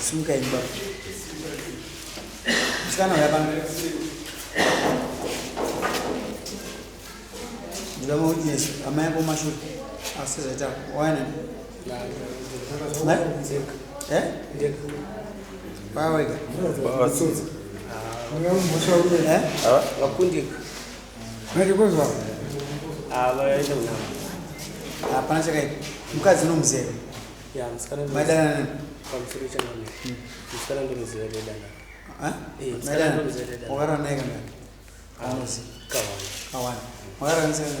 Simuka imba. Msikana uya pano. Ndiba ma witness amai ako mashure. Asi zvaita waina. Eh? Bawega. Bawega. Eh? Vakundika. hapana chakaipa mukadzi unomuziva maidanana wakarara naye kana anozi kawana wakarara nasekana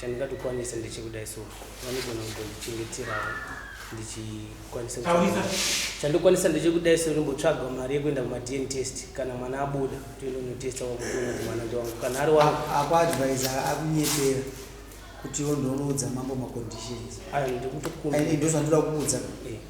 Chandingatokwanisa ndechekudai so vanogona kutondichengeterawo ndichikwanisa chandokwanisa ndechekudai so ndimbotsvaga mari yekuenda kumadn test kana mwana abuda toenda notesta wakuona kuti mwana ndiwangu kana ari wangu akuadvisa akunyepera kuti ondonoudza mambo maconditions ayo ndikutokumbira ndozvandira kuudza eh.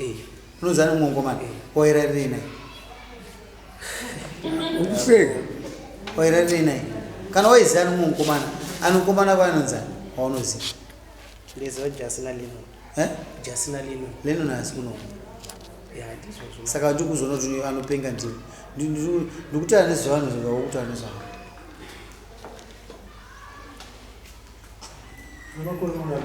Eh, unozana umwongo make wairarirei naye ukuseka wairarirei naye kana waizana umwe mukomana anokomana kwaanonzana waunoziva ndeziva jasi nalino Eh? jasi nalino lenon haasi kunoku ya ndizvozvo saka ndiri kuzoona kuti uyu anopenga ndini Ndi- ndiri- ndikutaura nezvevanhu zvingava kutaura nezvavo Unokorora mwana.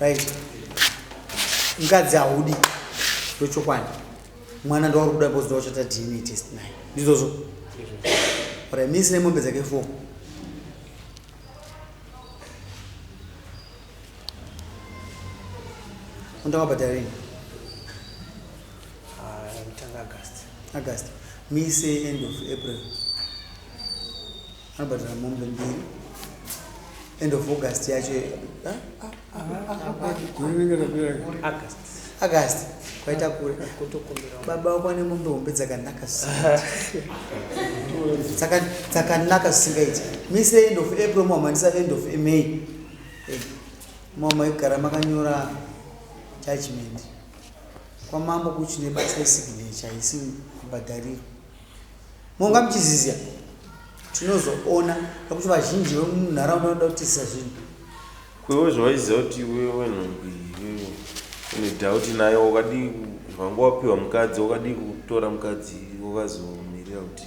Right. Ngadzi haudi ndochokwadi mwana ndauri kuda because ndawachata dna test naye ndizvozvo ora misi nemombe dzake four undawabhadharini kutanga agast agast mise end of april anobhadhara mombe mbiri end of august yacho agast kwaita kure baba wako ane mombe hombe dzakanaka dzakanaka zvisingaiti mise end of april muhamhanisa end of may eh, mama ikugara makanyora judgment kwamambo kuchi nebasa yesignature haisi kubhadharirwa monga muchizizia tinozoona pakuti vazhinji vemunharaunda vanoda kutizisa zvinhu kwewe zvawaiziva kuti iwe wenhumbi iwewe une doubt nayo wakadii vanga wapiwa mukadzi wakadii kutora mukadzi wakazomirira kuti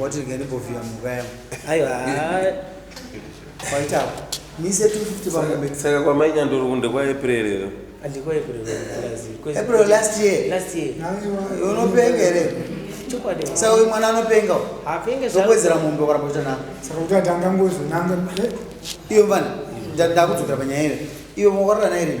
wati ndingandimbovhiya mhuka yangu aiwa kwaita apo mise 250 pamombe saka kwamai nyandoro kunde kwaepurerero april last year unopenga here saka uyu mwana anopenga ndokuwedzera mombe kwaramba kuita nako saka kuti ati angangozonanga iyo mvana ndakudzokera panyaya ive iwe mwakarora naye rini